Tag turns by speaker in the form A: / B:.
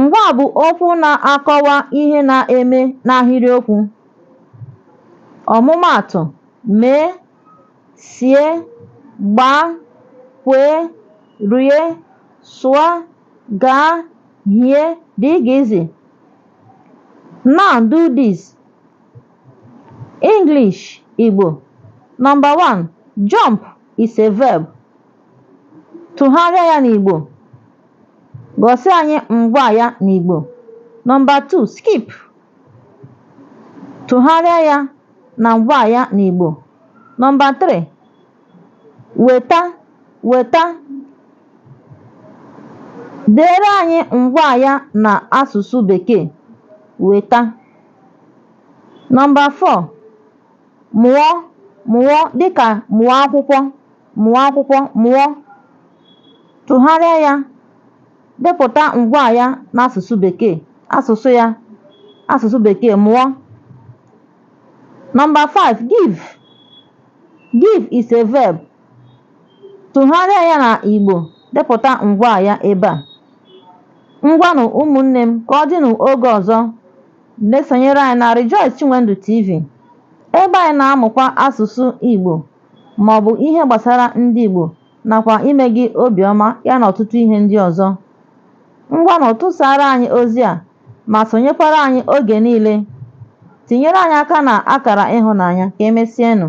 A: Ngwaa bụ okwu na-akọwa ihe na-eme n'ahịrịokwu. Ọmụmaatụ, mee, sie, gbaa, kwee, rie, sụọ, gaa, hie, dgz. Now do this. English, Igbo. Number one, jump is a verb. Tụgharịa ya n'Igbo. Gosi anyị ngwaa ya n'Igbo. Nọmba 2, skip. Tụgharịa ya na ngwaa ya n'Igbo. Nọmba 3, weta, weta. Deere anyị ngwaa ya na asụsụ Bekee. Weta. Nọmba 4, mụọ, mụọ dịka mụọ akwụkwọ. Mụọ akwụkwọ mụọ, tụgharịa ya, depụta ngwaa ya n'asụsụ Bekee, asụsụ ya, asụsụ Bekee, mụọ. Nọmba 5, give. Give is a verb. Tụgharịa ya na Igbo, depụta ngwaa ya ebe a. Ngwanụ ụmụnne m ka ọ dịnụ oge ọzọ na-esonyere anyị na Rejoice Chinwendu TV, ebe anyị na-amụkwa asụsụ Igbo. maọbụ ihe gbasara ndị Igbo nakwa ime gị obi ọma ya na ọtụtụ ihe ndị ọzọ. Ngwanụ tụsaara anyị ozi a ma sonyekwara anyị oge niile. Tinyere anyị aka na akara ịhụnanya. Ka emesienụ.